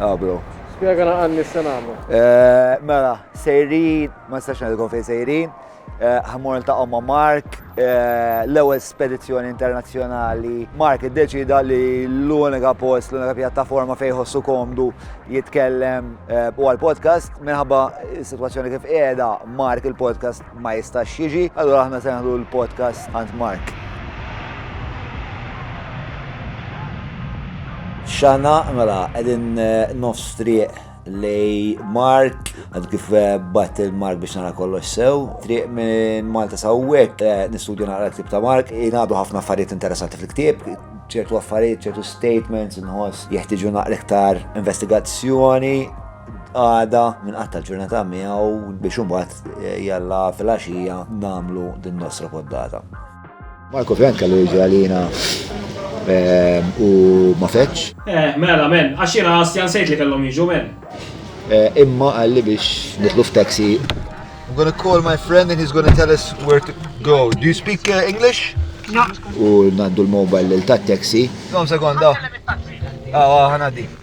Ah, bro. Spiega na għanni s-senamu. Eh, mela, sejrin, ma s-saxna li konfej sejrin, eh, ħamur ta' omma Mark, eh, l-ewel spedizjoni internazjonali. Mark id-deċida li l-unika post, l-unika pjattaforma fejħossu komdu jitkellem u għal-podcast, minħabba situazzjoni kif edha Mark il-podcast ma jistax jiġi, allura aħna se neħdu l-podcast għand Mark. Xana, mela, għedin eh, nofs triq lej Mark, għad kif eh, bat il-Mark biex nara kollox sew, triq minn Malta sawwek, eh, nistudju naqra l-ktib ta' Mark, jinabu ħafna affarijiet interessanti fil-ktib, ċertu affarijiet, ċertu statements, nħoss jeħtiġu naqra iktar investigazzjoni, għada minn qatta l-ġurnata miegħu biex imbagħad eh, jalla fil-għaxija nagħmlu din nostra poddata. Marko Frank kellu jiġi għalina eh, u ma feċ. Eh, mela, men, għax jiena għastjan sejt li kellhom jiġu, men. Eh, imma għalli biex nitlu f'taxi. I'm gonna call my friend and he's gonna tell us where to go. Do you speak uh, English? No. U nandu l-mobile l-tat taxi. Kom sekonda. Ah, ah, ħanaddi.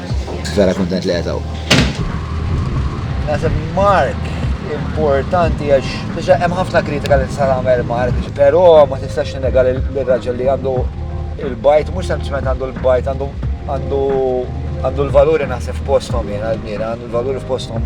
Vera kontent li għetaw. Nasib Mark importanti għax biex hemm ħafna kritika li tista' tagħmel Mark, però ma tistax nega li l-raġel li għandu il-bajt mhux sempliċement għandu l-bajt għandu għandu l-valuri naħseb f'postom jien għal-mira, għandu l-valuri f'postom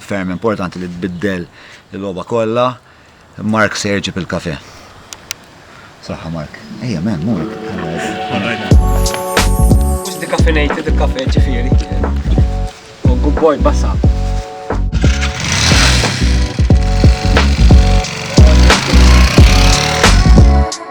Ferm importanti li tbiddel il-logħba kollha. Mark se jġib il-kafè. Saħħa Mark. Ejja men, mhu hekk. Mhux decaffeinated il-kafè ġifieri. Oh, good boy, bassa.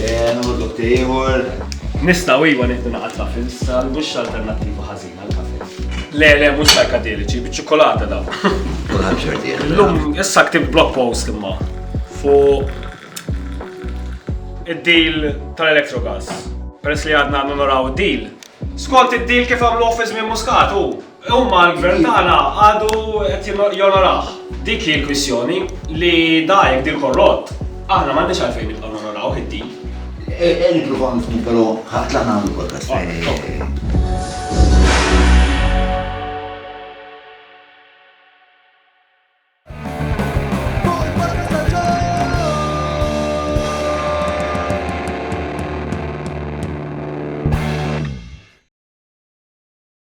Nħu dotti ieħor. Nistgħu iva nieħdu naqgħa truffles, sal mhux alternattiva ħażina għal kafe. Le, le, mhux sajkadeliċi, biċ-ċokolata daw. Kulħadd xorti. Illum issa ktib blog post imma fuq id-deal tal-Electrogas. Peress li għadna naraw id-deal. Skont id-deal kif għamlu office minn Muscat u Imma l-Gvern tagħna għadu qed jonorah. Dik hi l-kwistjoni, li da jekk dir korrott, aħna m'għandniex għalfejn nibqgħu nonorawh id-dil. Ejja nippruvaw nifhmu però ħa tlaq nagħmlu podcast.